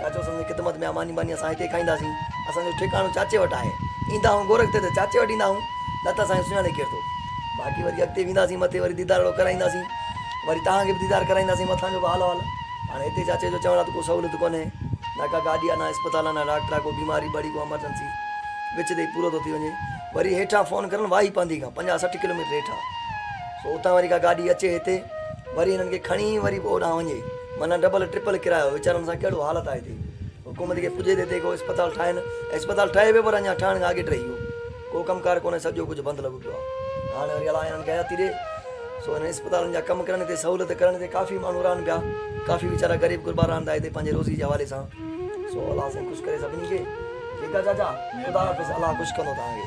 چاچو اسان جي خدمت ۾ آ، ماني ٻاني اسان هتي کائينداسين. اسان جو ٺڪاڻو چاچي وٽ آهي. ايندا هئون گورک تي ته چاچي وٽ ايندا هئون، نه ته اسان کي سڃاڻي ڪير ٿو. باقي وري اڳتي وينداسين مٿي وري ديدار اهڙو ڪرائينداسين. وري توهان کي به ديدار ڪرائينداسين مٿان جو به حال احوال. هاڻي هتي چاچي جو چوڻ آ ته ڪو سهولت ڪونهي. نه ڪا گاڏي آ نه اسپتال آ نه ڊاڪٽر آ ڪو بيماري بڙي ڪو امرجنسي وچ تي ئي پورو ٿو ٿي وڃي. وري هيٺان فون ڪرڻ واهي پانڌي کان پنجاهه سٺ ڪلوميٽر هيٺ آ. سو اتان وري ڪا گاڏي اچي هتي وري هنن کي کڻي وري به اوڏانهن وڃي. معنيٰ ڊبل ٽرپل ڪرايو ويچارن سان ڪهڙو حالت آهي هتي حڪومت کي پڄي ته هتي ڪو اسپتال ٺاهين ۽ اسپتال ٺهي به پر اڃان ٺهڻ کان اڳيٽ رهي ويو ڪو ڪم ڪار ڪونهي سڄو ڪجهه بند لڳو پيو آهي هاڻي وري الاء هنن کي حياتي ڏي سو هنن اسپتالن جا ڪم ڪرڻ تي سهولت ڪرڻ تي ڪافي ماڻهو رهن پيا ڪافي ويچارا غريب غربا رهن ٿا هتي پنهنجي روزي جي حوالي سان سو الاء سائين خوش ڪري سڀني کي ٺيڪ آهي چاچا خدا حافظ الاء خوش ڪندو تهان کي